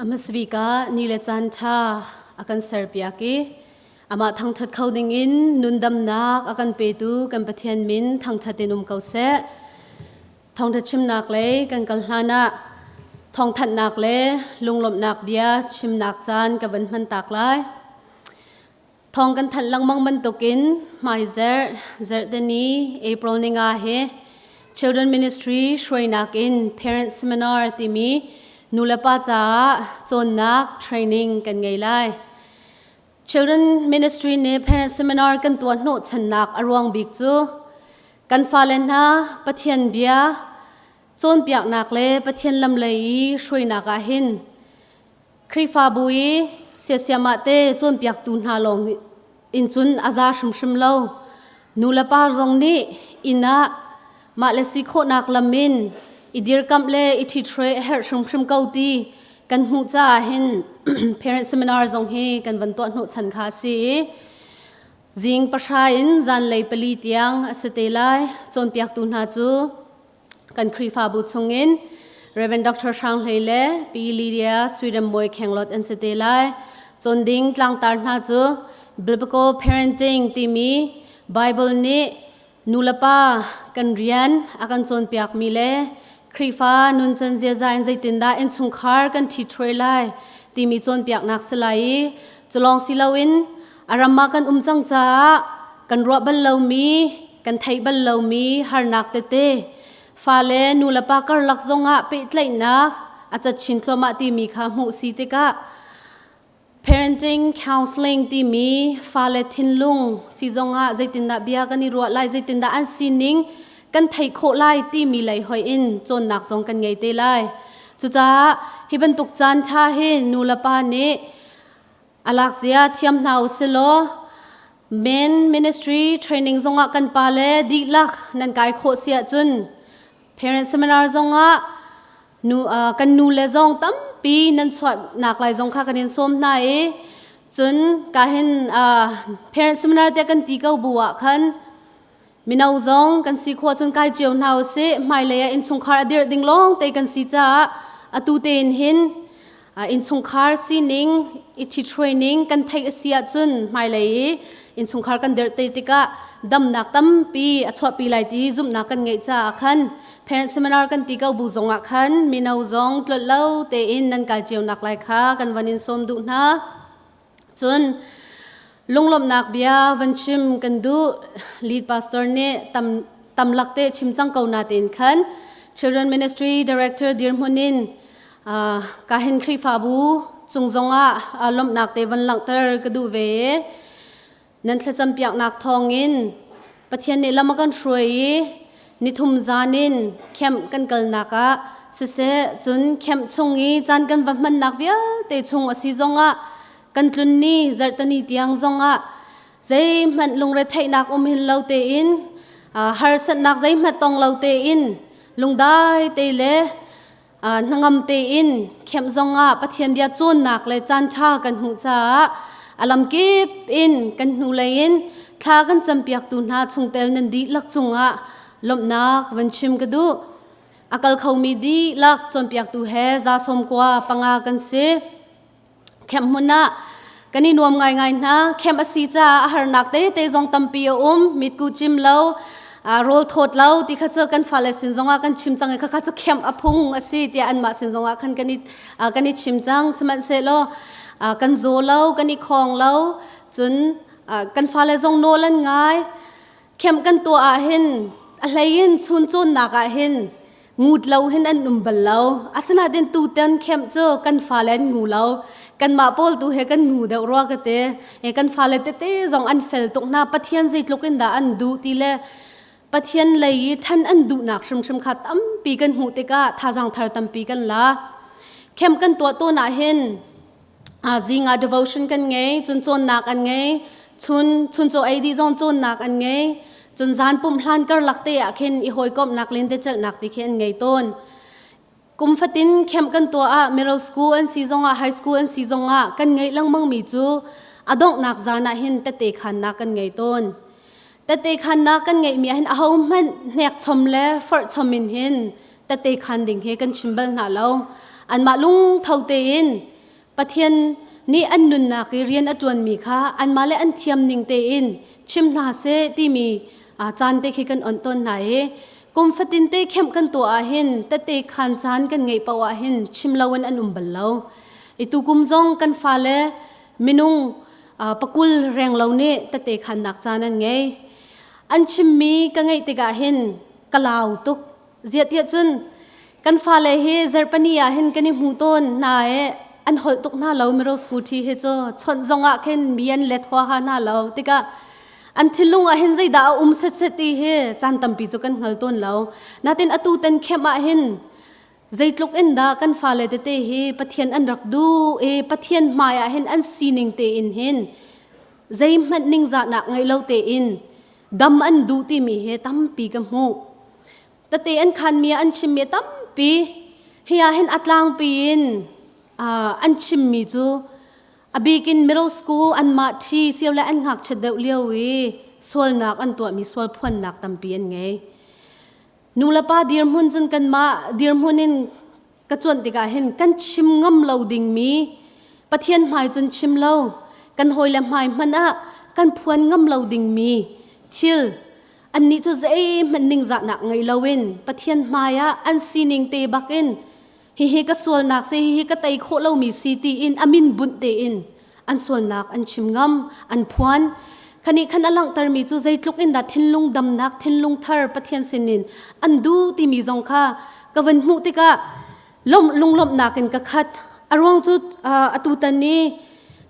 Amasbika ni le caan ṭha a kan serpiak i amah thangṭhat kho dingin nundamnak a kan petu kan Pathian min thangṭhat in um ko seh. Thawngṭha chimnak lei kan kal hlanah thawngthanhnak le lunglawmhnak bia chimnak caan ka van hman tak lai. Thawng kan thanh lengmang bantukin hmaizer Zertani April ni nga hi Children Ministry hruainak in Parents Seminar timi nulepa caah cawnnak training kan ngei lai. Children Ministry nih Parents Seminar kan tuah hnawhchannak a ruang bik cu kan fale hna Pathian bia cawnpiaknak le Pathian lam lei i hruainak ah hin Khrihfabu i siasiamah te cawnpiaktu hna lawng in cun a za hrimhrim lo. Nulepa zong nih inn ah mahle si khawhnak lam in i dirkamh le i ṭhiṭhre a herh hrimhrim ko ti kan hmuh caah hin parent seminar zong hi kan van tuah hnawhchan kha a si i zing pahra in zanlei pali tiang a si te lai. Cawnpiaktu hna cu kan Khrihfabu chungin Reverend Dr. Hrang Hlei le Pi Lydia Sweden Bawi Khenglot an si te lai. Cawn ding tlangtar hna cu Biblical Parenting timi Bible nih nulepa kan rian a kan cawnpiak mi le Khrihfa nuncan ziaza in zeitindah innchungkhar kan ṭhi thuai lai timi cawnpiaknak si lai i culong si loin A ram ah kan um cang caah kan ruah bal lomi, kan theih bal lomi harnak tete fale nulepa karlak zongah pehtlaihnak a cat chin thluahmah timi kha hmuh si tikah parenting counseling timi fale thinlung si zongah zeitindah bia kan i ruah lai zeitindah an sining kan theih khawh lai timi lei hoi in cawnnak zong kan ngei te lai cucaah hi bantuk caan ṭha hi nulepa nih alakzia thiam hna u silaw men ministry training zongah kan pa le dihlak nan kai khawh si ahcun parent seminar zongah nu uh, kan nu le zong tampi nan chuahnak lai zong kha kan in sawm hna i cun ka hin uh, parent seminar te kan ti ko bu ah khan Mino zong kan si khawh cun kai cio hna u sih. Hmailei ah innchungkhar a dirh ding lawng te kan si caah atu tein hin innchungkhar sining i ṭhithruaining kan theih a si ahcun hmailei i innchungkhar kan dirh te tikah damnak tampi a chuahpi lai ti zumhnak kan ngeih caah khan parent seminar kan ti ko bu zongah khan mino zong tlollo tein nan kai cionak lai kha kan van in sawm duh hna. Cun lunglawmhnak bia van chim kan duh lead pastor nih tam tam lak te chim cang ko na tein khan Children Ministry Director dirhmun in ka hin Khrihfabu cung zongah lawmhnak te van langhter ka duh ve Nan thlacampiaknak thawngin Pathian nih lam a kan hruai i nithum zan in camp kan kalnak ah siseh cun camp chung i caan kan va hmannak vialte chung a si zongah kan tlunni zarhtani tiang zongah zeihmanh lungretheihnak um hin lo tein harsatnak zeihmanh tong lo tein lungdai te le hnangam tein khenh zong ah Pathian bia cawnnak le caanṭha kan hmuh caah a lamkip in kan hnulei in thla kan campiaktu hna chungtel nan dihlak cungah lawmhnak van chim ka duh a kal khomi dihlak cawnpiaktu he zasawm kua panga kan si Camp hmun ah kan i nuam ngaingai hna. Camp a si caah a harnak tete zong tampi a um. Mitku cim lo, aa rawl thawt lo ti kha cu kan fale sin zongah kan chim cang i khakha cu camp a phung a si tiah anmah sin zongah khan kan i ah, kan i chim cang. Sihmanhsehlaw ah, kan zaw lo, kan i khawng lo. Cun ah, kan fale zong nawl an ngai. Camp kan tuah ahhin a hlei in chuncawnnak ahhin Ngut lo hin an um bal lo. Asinain tutan camp cu kan fale an ngu lo. Kanmah pawl tu he kan ngu deuh rua ka te. E, kan fale tete zong an fel tuk hna. Pathian zeitluk in dah an duh ti le Pathian lei i ṭhan an duhnak hrimhrim kha tampi kan hmuh tikah thazaang thar tampi kan la. Camp kan tuah tawn ahhin zingah devotion kan ngei cun cawnnak an ngei chun chun caw ei dih zong cawnnak an ngei cun zan pumh hlan karlak te ah khin i hawikomhnak len te celhnak ti khi an ngei tawn kum fatin camp kan tuah ah middle school an si zongah high school an si zongah kan ngei lengmang mi cu a donghnak zan ah hin tete khannak kan ngei tawn Tate khan na kan ngeihmi ah hin ahohmanh hnekchom le forhchom in hin tate khan ding hi kan chim bal hna lo. Anmah lungtho tein Pathian nih an nunnak i rian a ṭuanmi kha anmah le an thiam ning tein chim hna seh timi caan te khi kan on tawn hna i kum fatin te khenh kan tuah ahhin tate khan caan kan ngeih paoh ahhin chim loin an um bal lo. I tukum zong kan fale minung pakul reng lo nih tete khannak caan an ngei an chimmi ka ngaih tikah hin ka lau tuk ziahtiah cun kan fale hi zerpani ah hin kan i hmu tawn hna e an holh tuk hna lo miro scooty hi cu chawnh zong ah khin mi an let hua ha hna lo tikah an thilung ah hin zeidah a um set set ti hi caan tampi cu kan hngal tawn lo natin atu ten khem ah hin Zeitluk in dah kan fale tete hi Pathian an rak duh i Pathian hmaiah hin an sining tein hin zeihmanh ningzahnak ngei lo tein dam an duh timi he tampi ka hmuh. Tate an khanmi ah an chimmi tampi hi ah hin a tlangpi in uh, an chimmi cu a bikin middle school anmah ṭhi sio le an ngakchiat deuh lio i sualnak an tuahmi sualphuannak tampi an ngei. nulepa dirhmun cun kanmah dirhmun in ka cuanh tikah hin kan chim ngam lo dingmi Pathian hmai cun chim lo kan hawi le hmai hmanh ah kan phuan ngam lo dingmi thil annih cu zeihmanh ningzahnak ngei loin Pathian hmai ah an sining te bak in hihi ka sualnak si hihi ka tei khawh lomi si tiin a min bunh tein an sualnak an chim ngam an phuan khanih khan a langhtermi cu zeitluk in dah thinlung damnak thinlung thar pathian sinin an duh timi zong kha ka van hmuh tikah lawmh lunglawmhnak in ka khat a ruang cu atu tan i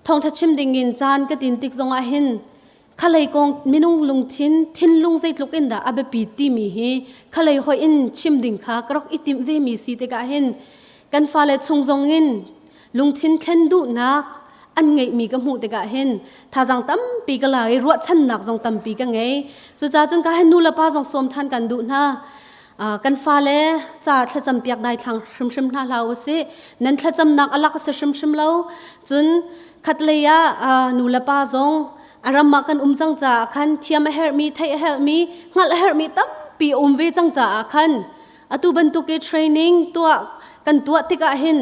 thawngtha chim ding in caan ka tin tik zongah hin khalei kong minung lungthin thinlung zeitluk in dah a biapi timi hi khalei hoi in chim ding kha ka rak itim ve mi si tikah hin kan fale chung zong in lungthin thlen duhnak an ngeih mi ka hmuh tikah hin thazang tampi ka la i ruahchannak zong tampi ka ngei cucaah cun ka hin nu le pa zong sawm ṭhan kan duh hna kan fale ca thlacam piak dai thlang hrimhrim hna hlah u sih nan thlacamnak alak a si hrimhrim lo cun khatlei ah nu le pa zong a ram ah kan um cang caah khan thiam a herhmi theih a herhmi hngalh a herhmi tampi a um ve cang caah khan atu bantuk i training tuah kan tuah tikah hin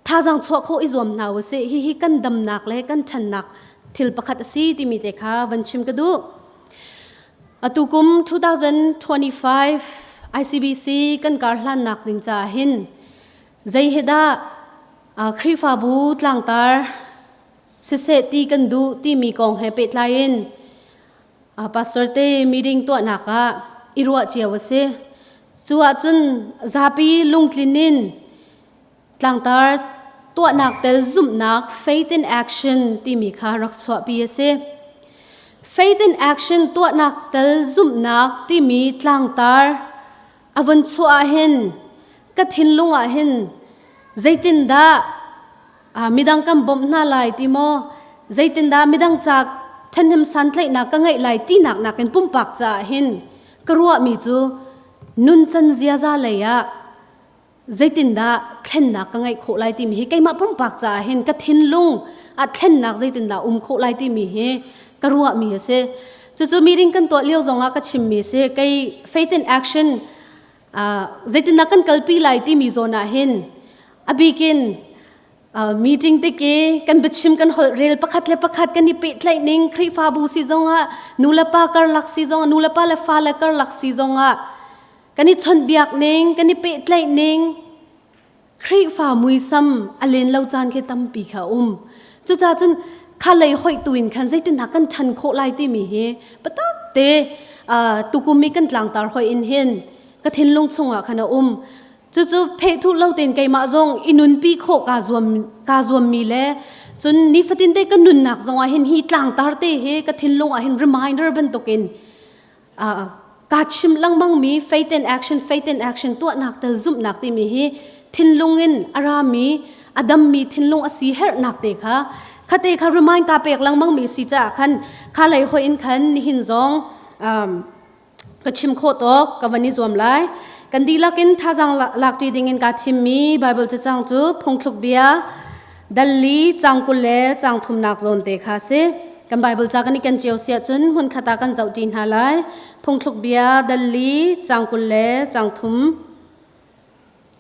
thazaang chuah khawh i zuam hna u sih hihi kan damnak le kan ṭhannak thil pakhat a si timi te kha van chim ka duh atu kum 2025 ICBC kan kar hlannak ding caah hin zei he dah Khrihfabu tlangtar siseh ti kan duh timi kong he pehtlai in pastor te meeting tuahnak ah i ruah cio a si. Cu ahcun zapi lungtlin in tlangtar tuahnak tel zumhnak faith in action timi kha rak chuahpi a si. Faith in action tuahnak tel zumhnak timi tlangtar a vun chuah ah hin ka thinlung ah hin zeitindah midang kan bawmh hna lai ti maw zeitindah midang ca ṭhenhnem santlaihnak ka ngeih lai tinak nakin pumpak caah hin ka ruahmi cu nuncan ziaza lei ah zeitindah thlennak ka ngeih khawh lai timi hi keimah pumpak caah hin ka thinlung a thlennak zeitindah um khawh lai timi hi ka ruahmi a si cucu meeting kan tuah lio zongah ka chimmi si kei faith in action zeitindah kan kalpi lai timi zawn ah hin a bikin meeting tiki kan biachim kan holh rel pakhat le pakhat kan i pehtlaih ning khrihfabu si zongah nu le pa karlak si zongah nu le pa le fa le karlak si zongah kan i chawnhbiak ning kan i pehtlaih ning Khrihfa muisam a len lo caan khi tampi kha um cuca cun kha lei hoih tu in khan zeitin kan ṭhan khawh lai timi hi patak te tukum i kan tlangtar hoi in hin ka thinlung chungah khan a um cucu phehthu lo tein keimah zong i nunpi khawh kaa zuam kaa zuammi le cun nifatin te ka nunnak zongah hin hi tlangtar te hi ka thinlung ah hin reminder bantukin kaa chim lengmangmi faith in action faith in action tuahnak tel zumhnak timi hi thinlung in a rami a dammi thinlung a si herhnak te kha khate kha remind ka pek lengmangmi si caah khan kha lei hoi in khan nihin zong ka chim kho tawk ka van i zuam lai kan dihlak in thazang lak ṭi ding in kaa thimmi Bible cacang cu phungthluk bia Dali cang kul le cang thumnak zawn te kha si. Kan Bible ca kan i ken cio si ahcun hmun khat ah kan zohṭi hna lai. Phungthluk bia dali cang kul le cang thum.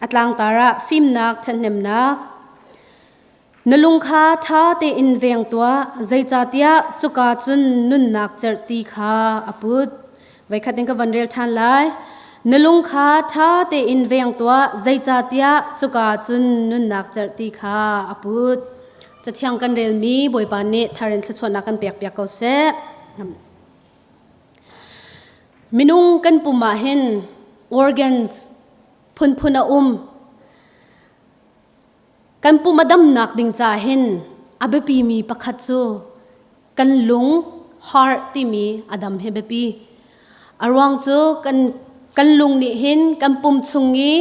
A tlangtar ah fimnak ṭhenhnemnak. Na lung kha ṭha tein veng tuah, zeicahtiah cuka cun nunnak cerh ti kha a put. Veikhat in ka van rel ṭhan lai. Na lung kha ṭha tein veng tuah, zeicahtiah cuka cun nunnak cerh ti kha a put. Cathiang kan relmi Bawipa nih thar in thluachuahnak kan pekpiak ko seh. Minung kan pum ah hin organs phunphun a um. Kan pum a damnak ding ca hin a biapimi pakhat cu kan lung heart timi a dam hi biapi. A ruang cu kan kan lung nih hin kan pum chung i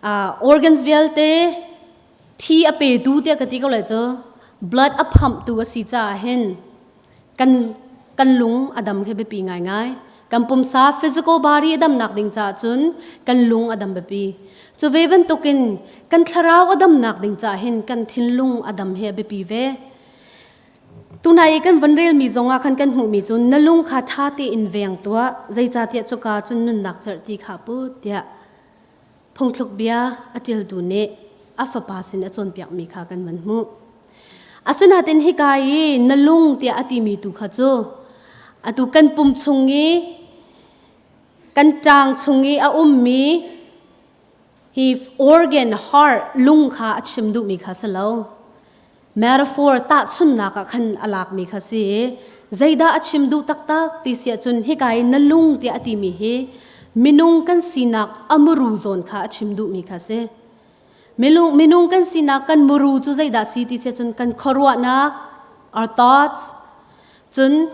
uh, organs vialte thi a petu tiah ka ti ko lai cu blood a phamhtu a si caah hin kan kan lung a dam khi biapi ngaingai kan pumsa physical body a dam nak ding caah cun kan lung a dam biapi cu ve bantuk in kan thlarau a dam nak ding caah hin kan thinlung a dam he biapi ve tunai i kan van rel mi zong ah khan kan hmuh mi cu na lung kha ṭha tein veng tuah zeicahtiah cuka cun nunnak cerh ti kha put tiah Phungthluk bia a ṭiltu nih a fapa sin a cawnpiakmi kha kan van hmuh. Asinain hika i na lung tiah a timi tu kha cu atu kan pum chung i kan ṭang chung i a ummi hi organ, heart lung kha a chim duhmi kha si lo. Metaphor tahchunnak ah khan a lakmi kha si i zeidah a chim duh taktak ti si ahcun hika i na lung tiah a timi hi minung kan sinak a muru zawn kha a chim duhmi kha si. Milung, minung kan sinak kan muru cu zeidah si ti si ahcun kan khuaruahnak, our thoughts, cun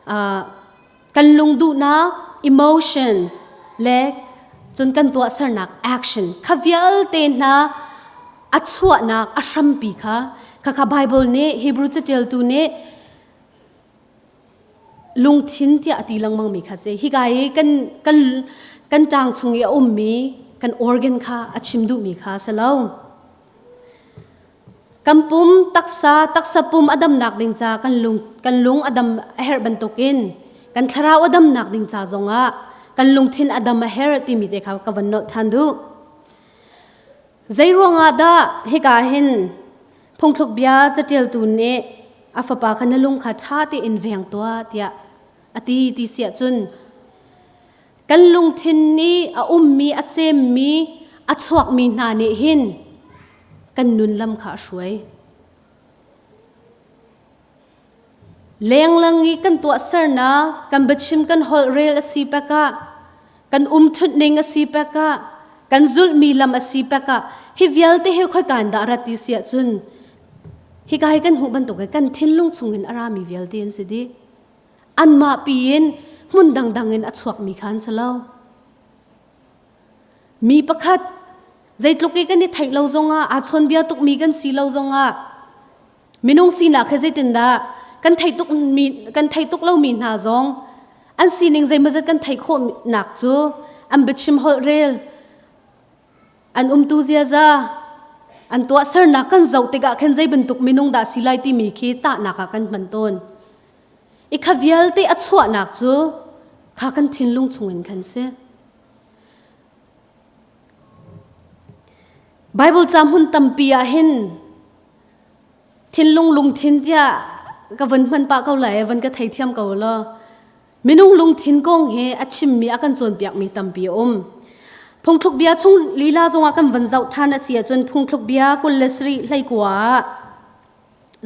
uh, kan lung duhnak emotions le cun kan tuahsernak action kha vialte hna a chuahnak a hrampi kha khakha Bible nih Hebrew catialtu nih lungthin tiah a ti lengmang mi kha si hika i kan kan kan tang chung i a ummi kan organ kha a chim duhmi kha si lo Kan pum taksa taksa pum a damnak ding ca kan lung kan lung a dam a herh bantukin kan thlarau a damnak ding ca zongah kan lungthin a dam a herh timi te kha ka van nolh ṭhan duh. Zei ruangah dah hika hin phungthluk bia caṭialtu nih a fapa kha na lung kha ṭha tein veng tuah tiah a ti ti si ahcun Kan lungthin nih a ummi a semmi a chuakmi hna nih hin kan nun lam kha a hruai. Lenglang i kan tuahsernak kan biachim kan holh rel a si pek ah kan umṭhutning a si pek ah kan zulhmi lam a si pek ah hi vialte hi khoi kan dah rat ti si ahcun hika hi kan hmuh bantuk i kan thinlung chungin a rami vialte an si dih. anmah piin hmun dangdang in a chuakmi kha an si lo. Mi pakhat zeitluk i kan i theih lo zongah aa chawnbia tukmi kan si lo zongah minung sinak he zeitindah kan theih tuk mi kan theih tuk lomi hna zong an sining zeimazat kan theih khawh nak cu an biachim holh rel an umtu ziaza an tuahsernak kan zoh tikah khan zei bantuk minung dah si lai timi khi tahnak ah kan hman tawn i kha vialte a chuahnak cu kha kan thinlung chungin khan si Bible ca hmun tampi ah hin thinlung lungthin tiah ka von hman pah ko lai van ka thei thiam ko law Minung lungthin kong hi a chimmi a kan cawnpiakmi tampi a um. Phungthluk bia chung lila zongah kan van zoh ṭhan a si ahcun phungthluk bia kul le sarih hleikua ah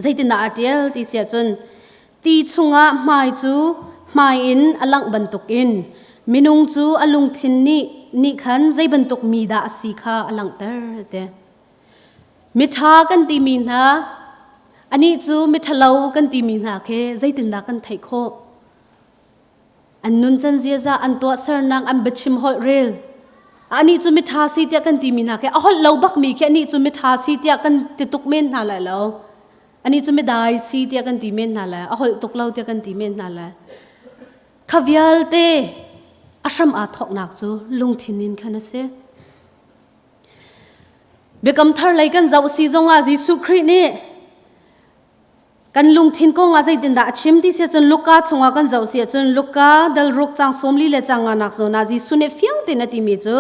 zeitindah a ṭial ti si ahcun ti chungah hmai cu hmai in a langh bantukin minung cu a lungthin nih nih khan zei bantuk mi dah a si kha a langhter ti. Miṭha kan timi hna, anih cu miṭhalo kan timi hna khi zeitindah kan theih khawh? An nuncan ziaza an tuahsernak an biachim holh rel. Anih cu miṭha si tiah kan timi hna khi a holh lo bakmi khi anih cu miṭha si tiah kan ti tuk men hna lai lo. Anih cu midai si tiah kan ti men hna lai. A holh tuk lo tiah kan ti men hna lai. Kha vialte a hram aa thawknak cu lungthin in khan a si. Biakam thar lei kan zoh si zongah Jesuh Khrih nih kan lungthin kong ah zeitindah a chim ti si cun Luka chungah kan zoh si cun Luka dal ruk cang sawmli le cang nganak zawn ah Jesuh nih fiang tein a timi cu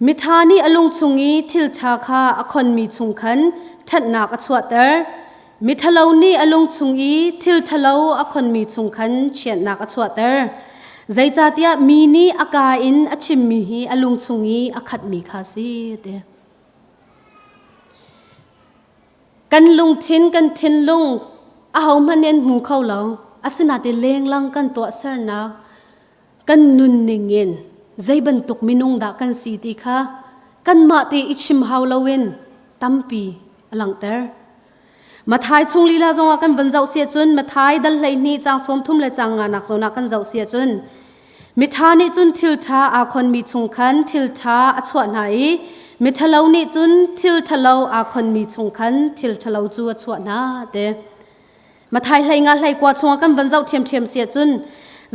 miṭha nih a lung chung i thilṭha kha a khonmi chung khan ṭhatnak a chuahter Miṭhalo nih a lung chung i thil ṭhalo a khonmi chung khan chiatnak a chuahter. Zeicahtiah mi nih a kaa in a chimmi hi a lung chung i a khatmi kha a si, a ti. Kan lungthin, kan thinlung ahohmanh nih an hmu kho lo. Asinain lenglang kan tuahsernak kan nunning in zei bantuk minung dah kan si ti kha kanmah te i chim hau loin tampi a langhter. Mathai chung lila zongah kan van zoh si cun Mathai dal hleihnih cang sawmthum le cang nga nak zawnah kan zoh si cun mitha nih cun thiltha aa khonmi chung khan thiltha a chuah hna i mithalo nih cun thilthalo aa khonmi chung khan thilthalo cu a chuah hna te. Mathai hlei nga hlei kwa chunga kan van zoh ṭhiamṭhiam sia cun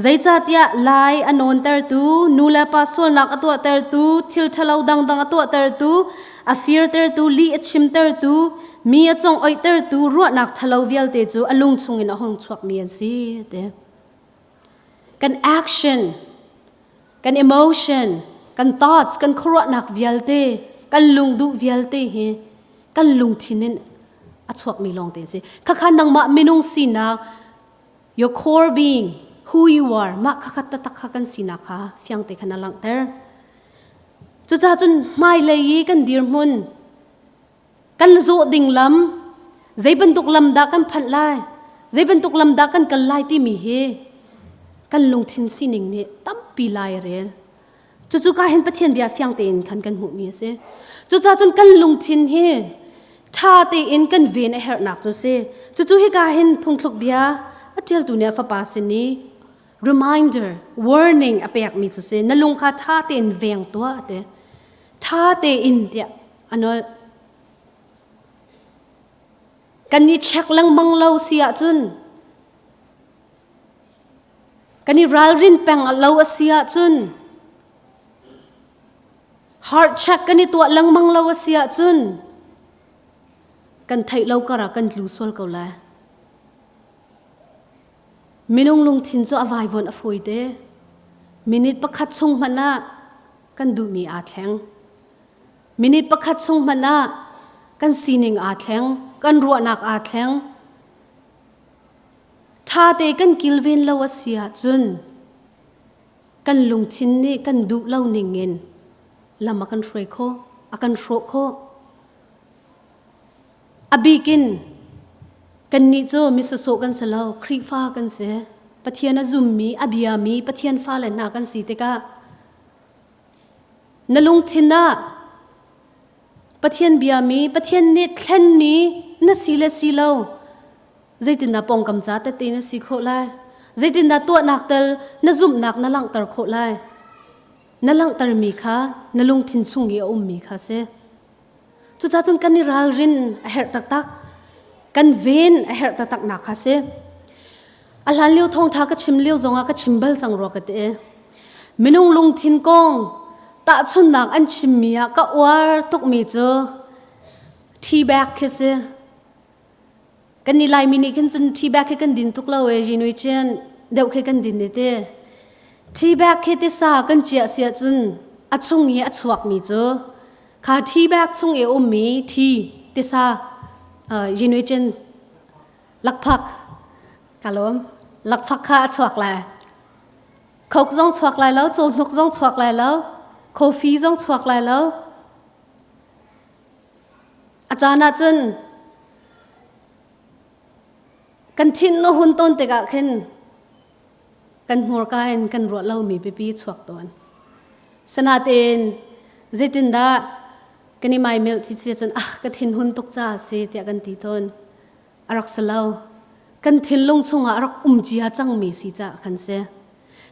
zeicahtiah lai a nawntertu nu le pa sualnak a tuahtertu thil ṭhalo dangdang a tuahtertu a firtertu li a chimtertu mi a cung oihtertu ruahnak ṭhalo vialte cu a lung chungin a hung chuakmi an si, a ti. kan action kan emotion kan thoughts kan khuaruahnak vialte kan lungduh vialte hi kan lungthin in a chuakmi lawngte si khakha nangmah minung sinak your core being who you are mah khakhat ta takha kan sinak kha fiangte khana langter cucacun hmailei i kan dirhmun kan zawh ding lam zei bantuk lam dah kan phanh lai zei bantuk lam dah kan kal lai timi hi kan lungthin sining nih tampi lai a rel cucu ka hin pathian bia fiang tein khan kan hmuhmi a si cucaah cun kan lungthin hi ṭha tein kan ven a herhnak cu si cucu hika hin phungthluk bia a ṭialtu nih a fapa sin i reminder warning a pekmi cu si na lung kha ṭha tein veng tuah a ti ṭha tein tiah anolh kan i check lengmang lo si ahcun kan i ralrin peng lo a si ahcun heart check kan i tuah lengmang lo a si ahcun kan theih lo kara kan tlu sual ko lai minung lungthin cu a vaivuan a fawi te minute pakhat chung hmanh ah kan duhmi aa thleng. Minute pakhat chung hmanh ah kan sining aa thleng, kan ruahnak aa thleng. Ṭhate kan kilven lo a si ahcun kan lungthin nih kan duh lo ning in lam a kan hruai khawh, a kan hrawh khawh. A bik in kannih cu misasawh kan si lo, Khrihfa kan si. Pathian a zummi, a biami Pathian fale hna kan si tikah Na lungthin ah Pathian biami, Pathian nih thlenmi na si le si lo zeitindah pawngkam ca tete na si khawh lai? Zeitindah tuahnak tal na zumhnak na langhter khawh lai? Na langhtermi kha na lungthin chung i a ummi kha si. Cucacun kan i ralrin a herh taktak. Kan ven a herh taktak nak kha si. A hlan lio thawngtha ka chim lio zongah ka chim bal cang rua ka ti. Minung lungthin kong tahchunnak an chimmi ah ka uar tukmi cu tea bag khi si. kan ni lai mi nih khin cun tea bag khi kan din tuk lo e jinui chin deuh khi kan din ne te tea bag khi tisa kan ciah sia cun a chung i a chuak mi cu kha tea bag chung i um mi tea tisa jinui chin lakphak ka lawm lakphak kha a chuak lai khok zong chuak lai lo cawhnuk zong chuak lai lo coffee zong chuak lai lo A caan ah cun kan thinlo hun tawn tikah khin kan hmurka in kan ruah lomi pipi chuak tawn. Sanatin zeitindah kan i maimelh ti cia cun ah ka thin hun tuk ca a si tiah kan ti tawn. a rak si lo. Kan thinlung chungah rak um cia cangmi si caah kan si.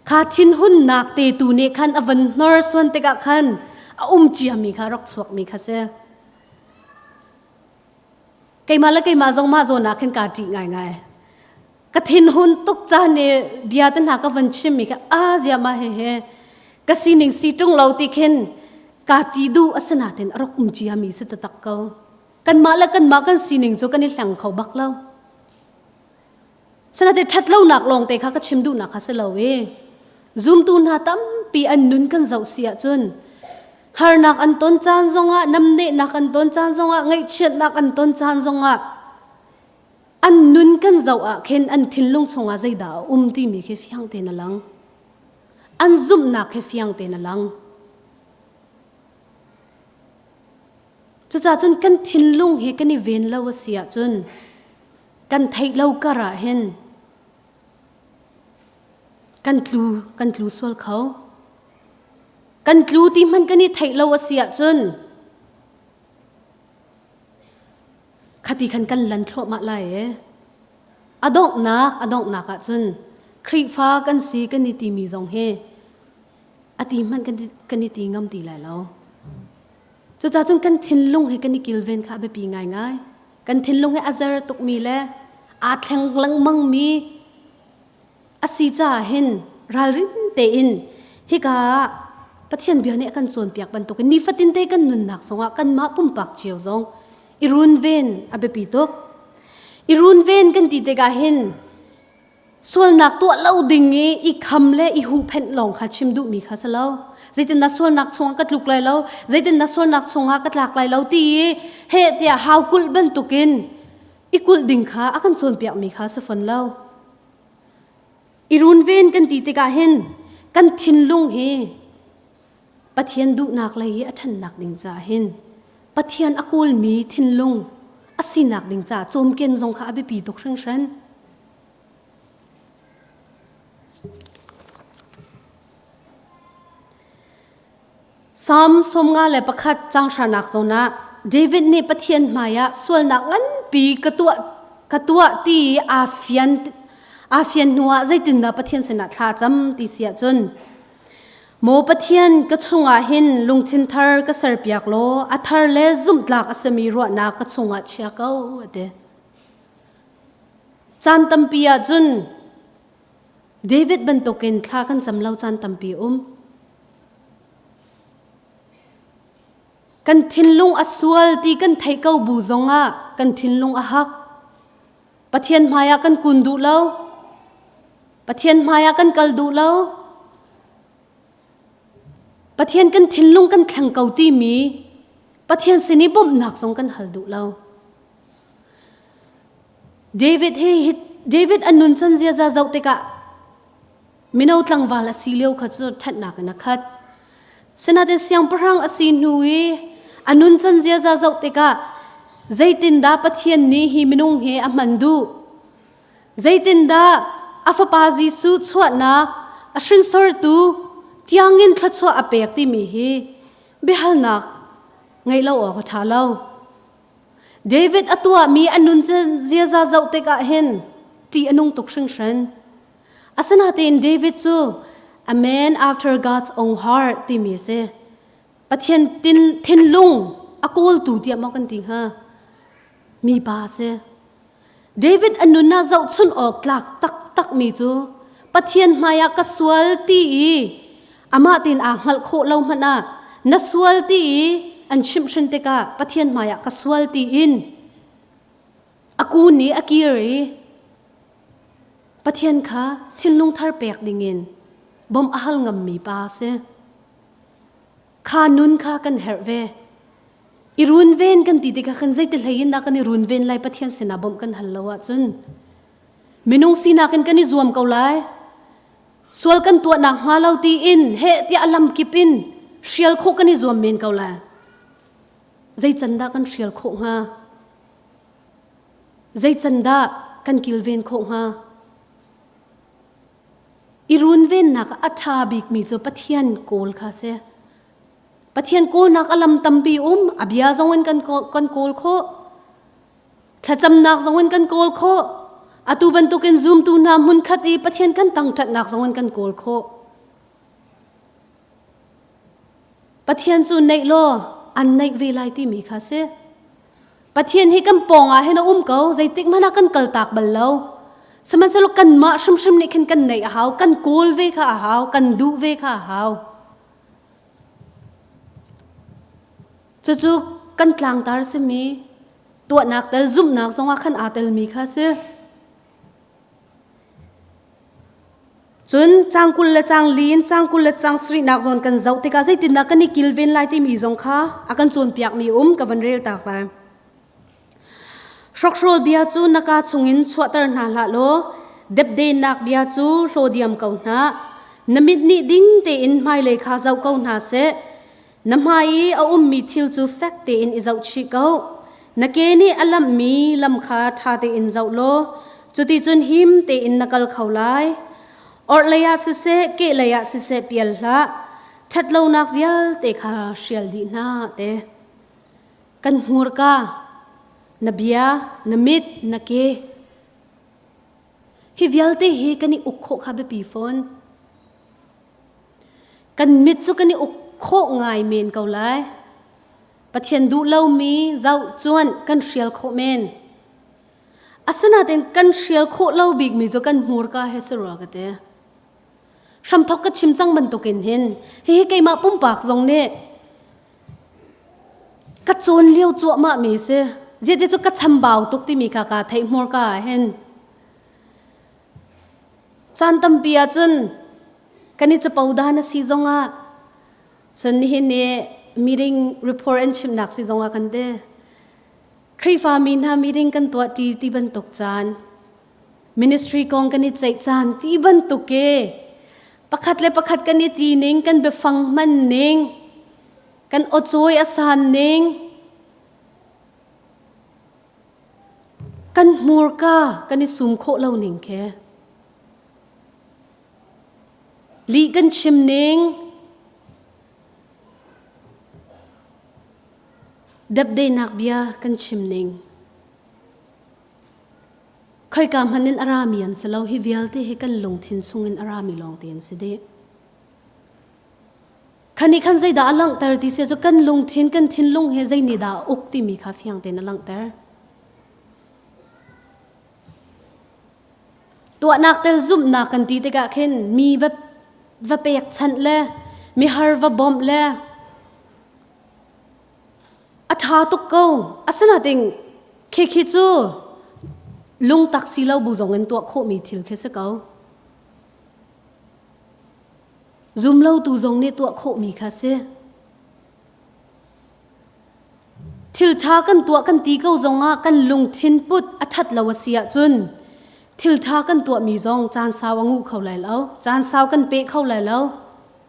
Kha thinhunnak te tu nih khan a van hnorsuan tikah khan a um ciami kha rak chuakmi kha si. Keimah le keimah zong mah zawn ah khin kaa ṭih ngaingai. Ka thinhun tuk caan i bia te hna ka van chimmi kha a ziama he he ka sining si ṭung lo ti khin kaa ti duh a si natin a rak um ciami si taktak ko. kanmah le kanmah kan sining cu kan i hleng kho bak lo sanate ṭhat lonak lawngte kha ka chim duhnak kha si lo i zumtu hna tampi an nun kan zoh si ahcun harnak an ton caan zongah namnehnak an ton caan zongah ngaihchiatnak an ton caan zongah an nun kan zoh ah khin an thinlung chungah zeidah a um timi khi fiang tein a lang an zumhnak khi fiang tein a lang Cucacun kan thinlung hi kan i ven lo a si ahcun kan theih lo kar ah hin kan tlu kan tlu sual kho. Kan tlu ti hmanh kan i theih lo a si ahcun khati khan kan lan thluahmah lai ee. A donghnak a donghnak ahcun Khrihfa kan si kan i timi zong hi ati hmanh kan kan i ti ngam ti lai lo cucacun kan thinlung he kan i kilven kha a biapi ngai ngai kan thinlung he a zer tukmi le aa thleng lengmang mi asi caah hin ralrin tein hika ah Pathian bia nih a kan cawnpiak bantukin nifatin te kan nunnak zongah kanmah pumpak cio zong i runven a biapi tuk i runven kan ti tikah hin sualnak tuah lo ding i i kham le i huhphenh lawng kha chim duhmi kha si lo zeitin na sualnak chungah ka tluk lai lo zeitin na sualnak chungah ka tlak lai lo ti i he tiah hau kulh bantukin i kulh ding kha a kan cawnpiakmi kha si fon lo i runven kan ti tikah hin kan thinlung hi Pathian duhnak lei i a ṭhannak ding caah hin Pathian a kawlmi thinlung a sinak ding caah cawmken zong kha a biapi tuk hringhran Salm sawm nga le pakhat changhranak zawn ah David nih Pathian hmaiah sualnak nganpi ka tuah ka tuah ti aa fian aa fian hnuah zeitindah Pathian sinah thla cam ti si ahcun Maw Pathian ka chungah hin lungthin thar ka serpiak law a thar le zumhtlak a simi ruahnak ka chungah chia ko a ti. Caan tampi ahcun David bantukin thla kan cam lo caan tampi um. Kan thinlung a sual ti kan thei ko bu zongah kan thinlung a hak. Pathian hmaiah kan kun duh lo. Pathian hmaiah kan kal duh lo. Pathian kan thinlung kan thleng ko timi Pathian sin i bawmhnak zong kan hal duh lo. David hi David an nuncan ziaza zoh tikah mino tlangval a si lio kha cu ṭhatnak in a khat. Sinain siangpahrang a si hnu i a nuncan ziaza zoh tikah zeitindah Pathian nih hi minung hi a hman duh? Zeitindah a fapa Jesuh chuahnak a hrinsortu tiangin thluachuah a pek timi hi biahalnak ngeih lo awk a ṭha lo. David a tuahmi a nun cu ziaza zoh tikah hin ṭih a nung tuk hringhran. Asinain David cu a man after God's own heart timi a si. Pathian thinlung a kawltu tiah maw kan ti hnga? Mipa a si. David a nun ah zohchunh awk tlak taktakmi cu Pathian hmaiah ka sual ti i amah tin aa hngalh khawh lo hmanh ah na sual ti i an chimhhrin tikah Pathian hmaiah ka sual tiin a ku nih a kir i Pathian kha thinlung thar pek dingin bawmh a hal ngammi pa a si. kha nun kha kan herh ve i runven kan ti tikha khan zeite hleiin dah kan i runven lai pathian sinah bawmh kan hal lo ahcun minung sinak in kan i zuam ko lai sual kan tuah nak hnga lo tiin he tiah lam kip in hrial khawh kan i zuam men ko lai zei can dah kan hrial khawh hnga zei can dah kan kilven khawh hnga I runvennak a ṭha bikmi cu Pathian kawl kha a si. Pathian kawlnak a lam tampi um, a bia zong in kan kan kawl khawh. Thlacamnak zong in kan kawl khawh. Atu bantukin zumtu hna hmunkhat i Pathian kan tangṭatnak zong in kan kawl khawh. Pathian cu neih law an neih ve lai timi kha a si. Pathian hi kan pawngah hin a um ko zeitik hmanh ah kan kal tak bal lo sihmanhsehlaw kanmah hrimhrim nih khin kan neih a hau kan kawl ve kha a hau kan duh ve kha a hau cucu kan tlangtar simi tuahnak tel zumhnak zongah khan aa telmi kha a si Cun cang kul le cang lin, cang kul le cang sarihnak zawn kan zoh tikah zeitindah kan i kilven lai timi zong kha a kan cawnpiakmi um ka van rel tak lai. Hrokhrawl bia cu na ka chungin chuahter hna hlah law depdenak bia cu hlaw diam ko hna. Na mit nih ding tein hmailei kha zoh ko hna seh. Na hmai i a ummi thil cu fek tein i zohchih ko. Na ke nih a lamhmi lam kha ṭha tein zoh law cuticun him tein na kal kho lai. Orhlei ah siseh, kehlei ah siseh pial hlah. Ṭhatlonak vialte kha hrial dih hna te. Kan hmurka, na bia, na mit, na ke, Hi vialte hi kan i uk khawh kha biapi fawn. Kan mit cu kan i uk khawh ngai men ko lai. Pathian duh lomi zoh cuan kan hrial khawh men. Asinain kan hrial khawh lo bikmi cu kan hmurka he si rua ka ti. Hramthok ka chim cang bantukin hin hihi keimah pumpak zong nih ka cawn lio cuahmah mi si ziate cu ka chambau tuk timi kha ka thei hmur ka hin caan tampi ah cun kan i capo da na si zong ah cun nihin ni meeting report and chimnak si zong ah kan te Khrihfa mi hna meeting kan tuah ṭi ti bantuk caan Ministry kong kan i ceih caan ti bantuk e pakhat le pakhat kan i ti ning kan biafang hman ning kan awcawi a san ning kan hmurka kan i sum khawh lo ning khe li kan chim ning dapdainak bia kan chim ning Khoika hmanh in a rami an si lo. Hi vialte hi kan lungthin chungin a rami lawng te an si dih. Kha nih khan zeidah a langhter ti sia cu kan lungthin, kan thinlung he zeinihdah a uk timi kha fiang tein a langhter. Tuahnak tel zumhnak kan ti tikah khin mi va, va pekchanh le mihar va bawmh le A ṭha tuk ko. Asinain khikhi cu lungtak si lo bu zongin tuah khawhmi thil khi si ko. Zumlotu zong nih tuah khawhmi kha si. Thil ṭha kan tuah kan ti ko zongah kan lungthin put a ṭhat lo a si ahcun thil ṭha kan tuahmi zong caan sau a ngu kho lai lo. Caan sau kan pe kho lai lo.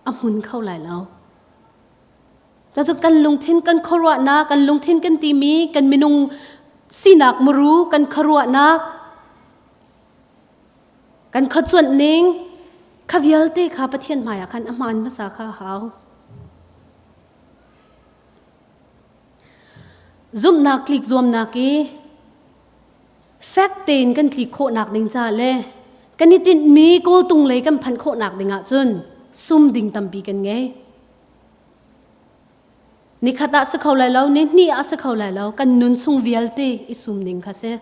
A hmun kho lai lo. Cacu kan lungthin kan khuaruahnak, kan lungthin kan timi, kan minung sinak muru kan khuaruahnak, kan khuacuanh ning, kha vialte kha Pathian hmaiah khan a hmaan hmasa kha a hau. Zumhnak tlik zuamnak i fek tein kan tlik khawhnak ding ca le kan i tinhmi kawltung lei kan phanh khawhnak ding ahcun sum ding tampi kan ngei. Nikhat ah si kho lai lo, ni hnih ah si kho lai lo. Kan nun chung vialte i sum ding kha si.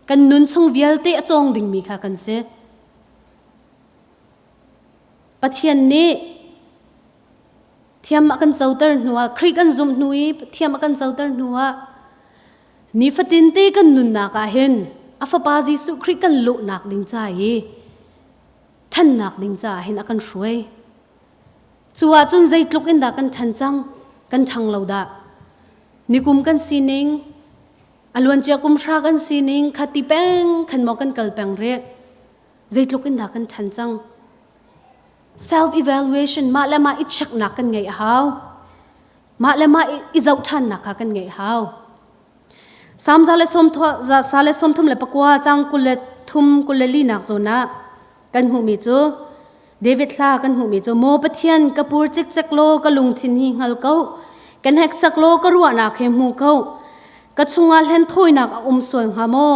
Kan nun chung vialte a cawng dingmi kha kan si. Pathian nih thiam a kan coter hnuah Khrih kan zumh hnu i thiam a kan coter hnuah nifatin te kan nunnak ah hin a fapa Jesuh Khrih kan lawhnak ding ca i ṭhannak ding caah hin a kan hruai. Cu ahcun zeitluk in dah kan ṭhan cang, kan ṭhang lo dah. Nikum kan sining, a luancia kumhra kan sining khati peng khan maw kan kal peng rih. Zeitluk in dah kan ṭhan cang. Self-evaluation mah le mah i cheknak kan ngeih a hau. Mah le mah i, i zoh ṭhannak kha kan ngeih a hau. Samza le sawmthum za le sawmthum le pakua cang kul le thum kul le linak zawn ah kan hmuhmi cu David hla kan hmuhmi cu maw Pathian ka pur cikcek law ka lungthin hi hngal ko ka hneksak law ka ruahnak he hmu ko ka chungah hlen thawinak a um sual hnga maw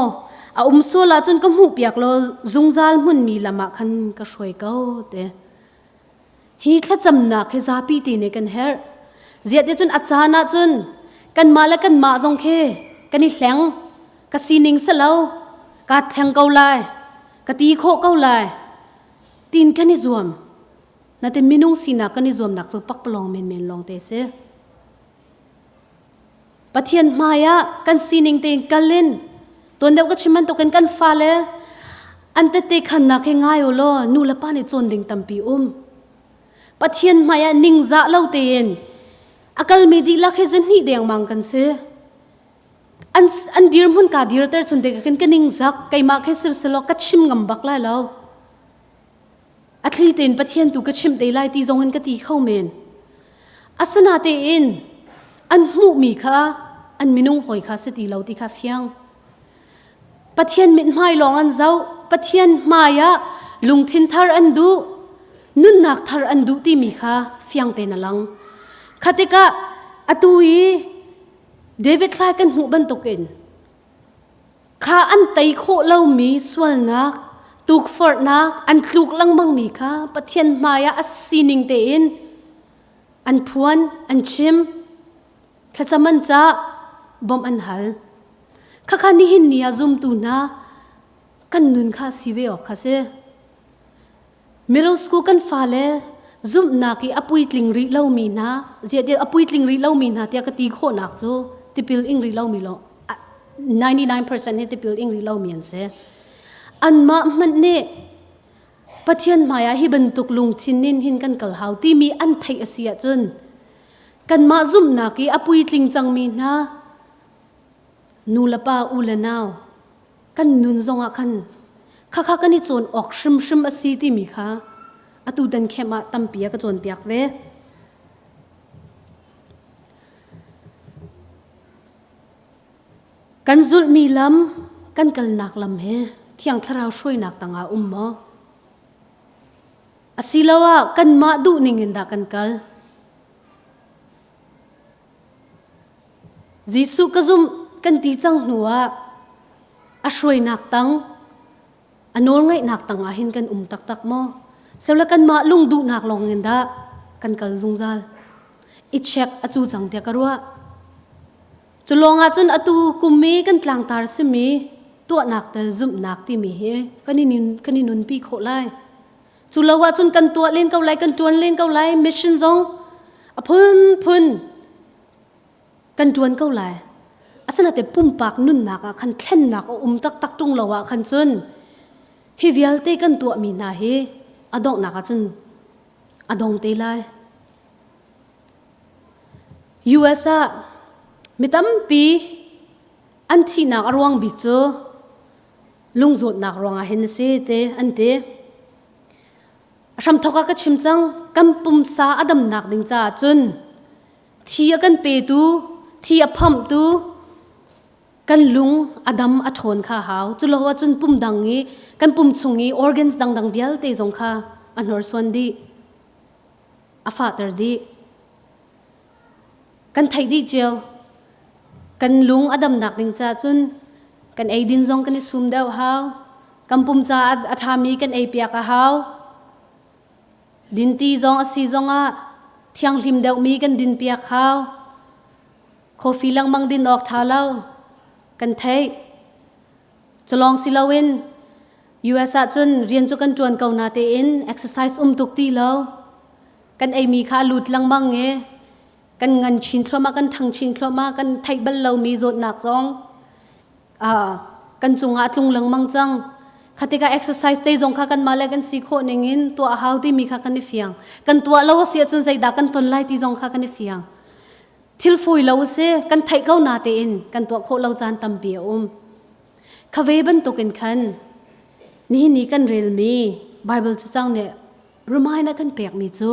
a um sual ahcun ka hmuhpiak law zungzal hmunmi lam ah khan ka hruai ko te Hi thlacamnak hi zapi ti nih kan herh. Ziate cun a caan ah cun kanmah le kanmah zong khi kan i hleng. Ka sining si lo, kaa thleng ko lai, ka ti khawh ko lai, tiin kan i zuam. Natin minung sinak kan i zuamnak cu pakpalawng menmen lawng te a si. Pathian hmaiah kan sining tein kal in tuan deuh ka chim bantukin kan fale an tete khannak hi ngai u law nu le pa nih cawn ding tampi um. Pathian hmaiah ningzah lo tein a kalmi dihlak hi zahnih dengmang kan si. An, an dirhmun ka dirter chun dek kan ka ningzak keimah khe silsilo ka chim ngam bak lai lo. A thli tein Pathian tu ka chimh te lai ti zongin ka ti kho men. Asinatein an hmuhmi kha an minung hawi kha si ti lo ti kha fiang. Pathian mithmai lawng an zoh, Pathian hmaiah lungthin thar an duh, nunnak thar an duh timi kha fiang tein a lang. Kha tikah atu i David thlai kan hmuh bantukin Kha an tei khawh lomi sualnak, tukforhnak an tluk lengmangmi kha Pathian hmaiah a sining tein an phuan, an chim. Thlacam an cah, bawmh an hal. Khakha nihin ni ah zumtu hna kan nun kha si ve awk kha si. Middle school kan fale zumhnak i a puitling rih lomi hna ziade a puitling rih lomi hna tiah ka ti khawhnak cu tipil ing rih lomi lo 99% hi tipil ing rih lomi an si anmah hmanh nih Pathian hmaiah hi bantuk lungthin in hin kan kal hau timi an theih a si ahcun kanmah zumhnak i a puitling cangmi hna nu le pa u le nau kan nun zongah khan khakha kan i cawn awk hrimhrim a si timi kha atu dan khem ah tampi a ka cawnpiak ve kan zulhmi lam kan kalnak lam he thiang thlarau hruainak tangah um maw asiloah kanmah duh ningin dah kan kal Jesuh ka zumh kan ti cang hnu ah a hruainak tang a nawlngaihnak tang ah hin kan um taktak maw? Seule kanmah lung duhnak lawng in dah kan kal zungzal. I check a cu cang tiah ka ruah. Cu lawng ahcun atu kum i kan tlangtar simi tuahnak tel zumhnak timi hi kan i nun, kan i nunpi khawh lai. Cu lo ahcun kan tuah len ko lai, kan ṭuan len ko lai. Mission zong a phunphun kan ṭuan ko lai. Asinate pumpak nunnak ah khan thlennak a um taktak ṭung lo ah khan cun hi vialte kan tuahmi hna hi a donghnak ahcun a dong te lai. US ah mi tampi an thihnak a ruang bik cu lungzawtnak ruangah hin a si te an ti hramthok ah ka chim cang kan pumsa a damnak ding caah cun thi a kan petu thi a phamtu kan lung a dam a ṭhawn kha hau culo ahcun pum dang i kan pum chung i organs dangdang vialte zong kha a hnorsuan dih a fahter dih kan theih dih cio kan lung a damnak ding ca cun kan eidin zong kan i sum deuh hau kan pum ca a ṭhami kan ei piak a hau dinti zong a si zong ah thianghlim deuhmi kan din piak hau coffee lengmang din awk ṭha lo kan theih Culawng si loin US ahcun rian cu kan ṭuan ko na tein exercise um tuk ti lo. Kan eimi kha a lut lengmang i kan ngan chin thluahmah, kan ṭhang chin thluahmah, kan theih bal lomi zawtnak zong aa kan cungah a tlung lengmang cang. Kha tikah exercise te zong kha kanmah le kan si khawh ningin tuah a hau timi kha kan i fiang. Kan tuah lo a si ahcun zeidah kan ton lai ti zong kha kan i fiang. thil fawi lo si kan theih ko na tein kan tuah khawh lo caan tampi a um khave bantukin khan nihin ni kan relmi Bible cacang nih remind a kan pekmi cu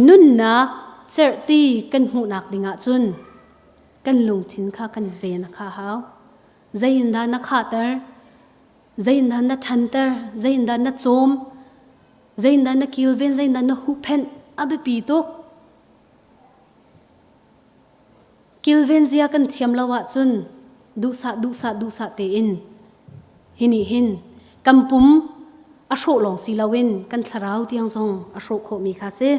nunnak cerhti kan hmuhnak dingah cun kan lungthin kha kan ven a kha hau zeiindah na khahter Zeindan na ṭhanter, zeindan na cawm, zeindan na kilven, zeindan na huhphenh a biapi tuk. Kilven zia kan thiam lo ahcun duhsah duhsah duhsah tein hi nih hin kan pum a hrawh lawng si loin kan thlarau tiang zong a hrawh khawhmi kha si.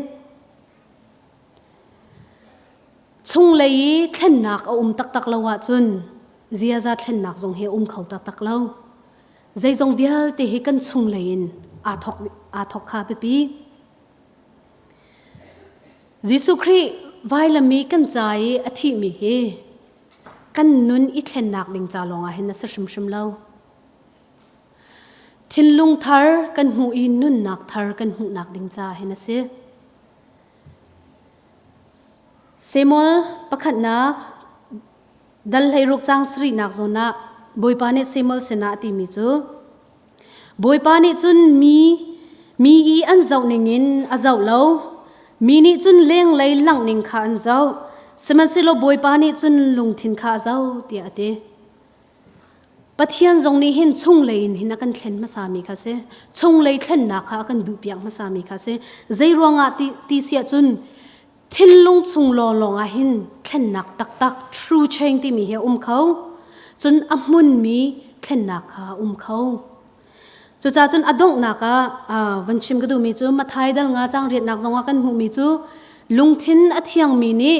Chunglei i thlennak a um taktak lo ahcun ziaza thlennak zong hi a um kho taktak lo. Zeizong vialte hi kan chunglei in aa thawk, aa thawk kha biapi. Jesuh Khrih vailam i kan ca i a thihmi hi kan nun i thlennak ding ca lawngah hin a si hrimhrim lo. Thinlung thar kan hmuh i nunnak thar kan hmuhnak ding ca hin a si. Samuel pakhatnak dal hleiruk caang sarihnak zawn ah Bawipa nih Samuel sinah a timi cu Bawipa nih cun mi mi i an zoh ningin a zoh lo mi nih cun lenglei langh ning kha an zoh sihmanhsehlaw Bawipa nih cun lungthin kha a zoh tiah a ti. Pathian zong nih hin chunglei in hin a kan thlen hmasami kha si. Chunglei thlennak kha a kan duhpiak hmasami kha si. Zeiruangah ti, ti siah cun thinlung chung lawnglawng ah hin thlennak taktak true change timi hi a um kho. Cun a hmunmi thlennak kha a um kho. Cucaah cun a donghnak ah uh, van chim ka duhmi cu Matthai dal nga cang riatnak zongah kan hmuhmi cu lungthin a thiangmi nih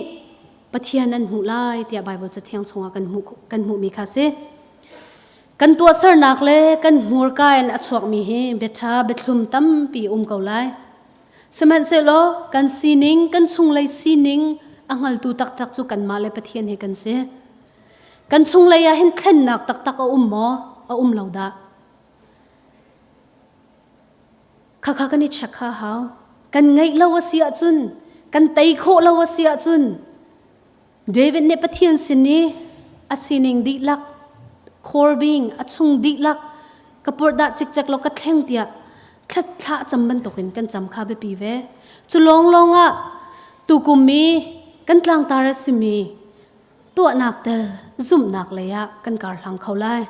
Pathian an hmuh lai tiah Baibal cathiang chungah kan hmuh kan hmuhmi kha si. Kan tuahsernak le kan hmurka in a chuakmi hi biaṭha biathlum tampi um ko lai. Sihmanhsehlaw kan sining, kan chunglei sining a hngaltu taktak cu kanmah le Pathian hi kan si. Kan chunglei ah hin thlennak taktak a um maw? A um lo dah. Khakha kan i check ha hau. Kan ngaih lo a si ahcun, kan tei khawh lo a si ahcun, David nih Pathian sin i a sining dihlak, Corbing a chung dihlak ka purhdah cikcek law ka thleng tiah thlah cam bantukin kan cam kha biapi ve. Cu lawnglawng ah tukum i kan tlangtar a simi tuahnak tel zumhnak lei ah kan kar hlang kho lai.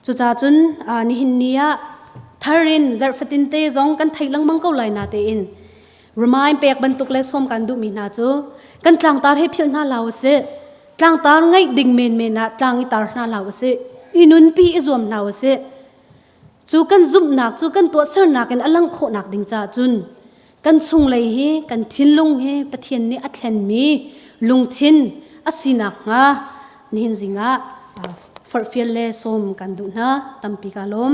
Cucacun nihin ni ah thar in zarh fatin te zong kan theih lengmang ko lai na tein remain pek bantuk le som kan duhmi hna cu kan tlangtar he philh hna lau usih tlangtar ngaih ding menmen ah tlang i tar hna lau usih i nunpi i zuam hna usih cu kan zumhnak cu kan tuahsernak in a langh khawhnak ding caah cun Kan chunglei hi kan thinlung hi Pathian nih a thlenmi lungthin a si nakhnga nihin zingah farfial le sawm kan duh hna tampi kaa lawm.